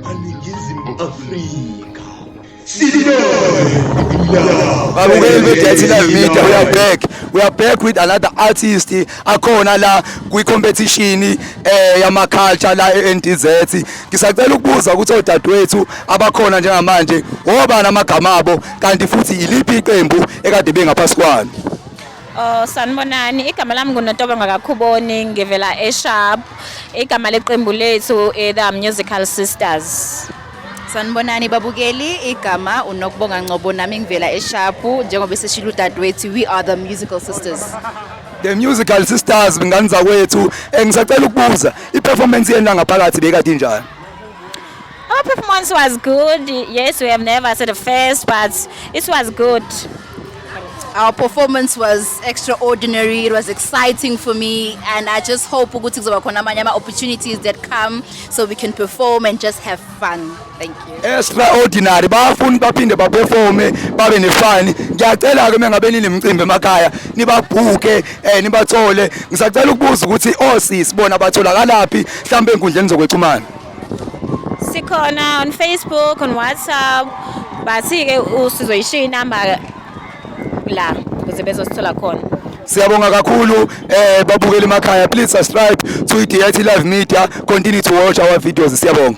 aningizimu afrika babukeli be-dirty live media we are back we are back with another artist akhona la kwi-competition eh yama-culture la e-ndz ngisacela ukubuza ukuthi odadewethu abakhona njengamanje wobani amagama abo kanti futhi yiliphi iqembu ekade bengaphasi kwalo Oh, sanibonani igama lami ngunotobo ngakakhuboni ngivela esharp igama leqembu lethu eh, the musical sisters sanibonani babukeli igama unokubonga ngcobo nami ngivela esharpu njengoba eseshilo udadewethu we are the musical sisters the musical sisters ngani zakwethu eh, ngisacela ukubuza i-performance yenu langaphakathi bekade injani Our performance was good. Yes, we have never said the first, but it was good. Our performance was extraordinary. It was exciting for me, and I just hope ukuthi kuzoba khona amanye ama opportunities that come so we can perform and just have fun. Thank you. Extraordinary. Bafuni baphinde ba performe babe ne fun. Ngiyacela ke mengabe ninemcimbi emakhaya nibabhuke eh nibathole. Ngisacela ukubuza ukuthi osisi bona batholakalaphi mhlambe enkundleni zokwexhumana. sikhona on Facebook on WhatsApp bathi-ke usizoyishiya inamba la ukuze bezosithola khona siyabonga kakhulu eh babukeli emakhaya please subscribe to iDIT Live Media continue to watch our videos siyabonga